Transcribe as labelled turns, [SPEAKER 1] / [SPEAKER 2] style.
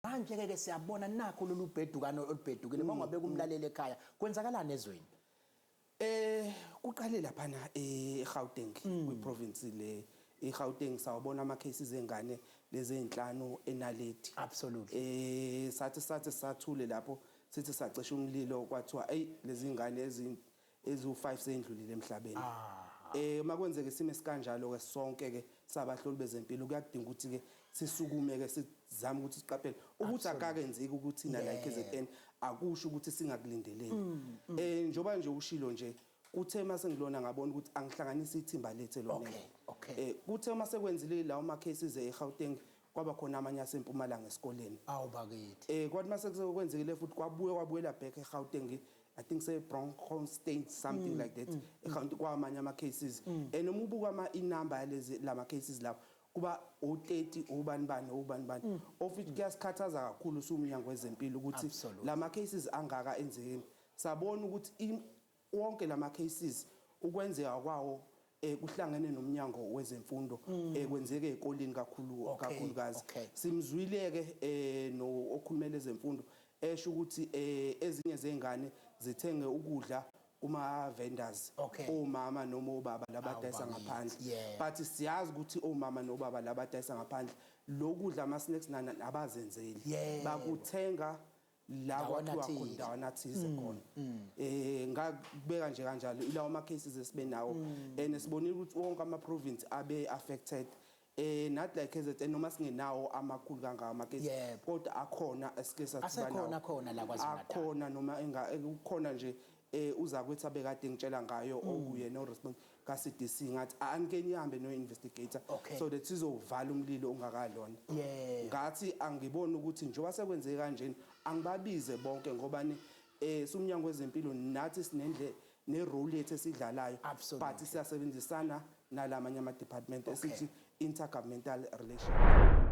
[SPEAKER 1] Manje-ke ke siyabona nakho lolu bhedukano olubhedukile uma ungabeka umlaleli ekhaya kwenzakalani ezweni Eh kuqale
[SPEAKER 2] laphana eGauteng kwiprovince le iGauteng sawabona ama cases engane lezi ezinhlanu eNaledi. Absolutely. Eh
[SPEAKER 1] sathi sathi
[SPEAKER 2] sathule lapho sithi sacisha umlilo kwathiwa ey lezi ngane ezi eziwu-5 seyendlulile emhlabeni. Um uma kwenzeka isimo esikanjalo-ke sonke-ke sabahloli bezempilo kuyakudinga ukuthi-ke sisukume-ke sizame ukuthi siqaphele. Ukuthi akakenzeki ukuthina la e-KZN akusho ukuthi singakulindeleli. Um njengoba nje ushilo nje, kuthe uma sengilona ngabona ukuthi angihlanganise ithimba lethu elonele. Um kuthe uma sekwenzile lawo ma-cases e-Gauteng kwaba khona amanye aseMpumalanga esikoleni. Awu bakithi. Um
[SPEAKER 1] kwathi uma sekwenzekile
[SPEAKER 2] futhi kwabuye kwabuyela back e-Gauteng I think say bronchostain something mm, like that mm, mm. account kwamanye ama cases mm. and uma ubuka ama inumber yalezi lama cases lapho kuba o30 obani bani obani bani mm. of it kuyasikhathaza kakhulu sumnyango wezempilo ukuthi lama cases angaka enzekeni sabona ukuthi wonke lama cases ukwenzeka kwawo eh kuhlangene nomnyango wezemfundo mm. eh kwenzeke ekolini kakhulu okay. kakhulukazi okay. simzwile ke eh no okhulumela ezemfundo esho ukuthi eh ezinye zengane zithenge ukudla kuma vendors okay. omama noma obaba labadayisa ngaphandle yeah. but siyazi ukuthi omama nobaba labadayisa ngaphandle lokudla ama snacks nana abazenzeli yeah. bakuthenga la kwathiwa khona ndawana thize mm, khona mm. eh ngakubeka nje kanjalo ilawo ama cases esibe nawo mm. and sibonile ukuthi wonke ama province abe affected eh not like KZN noma singenawo amakhulu kangaka ama case kodwa akhona esike sathibana asekhona khona la kwaZulu
[SPEAKER 1] akhona noma enga
[SPEAKER 2] kukhona nje Eh uzakwethu abekade engitshela ngayo mm. okuyena oh, oresponse ka CDC ngathi anike nihambe no investigator okay. so that sizovala umlilo ongakalona yeah. ngathi angibona ukuthi njengoba sekwenze kanjeni angibabize bonke ngoba ni eh sumnyango wezempilo nathi sinendle ne role yethu esidlalayo but siyasebenzisana nalamanye ama department okay. esithi intergovernmental relations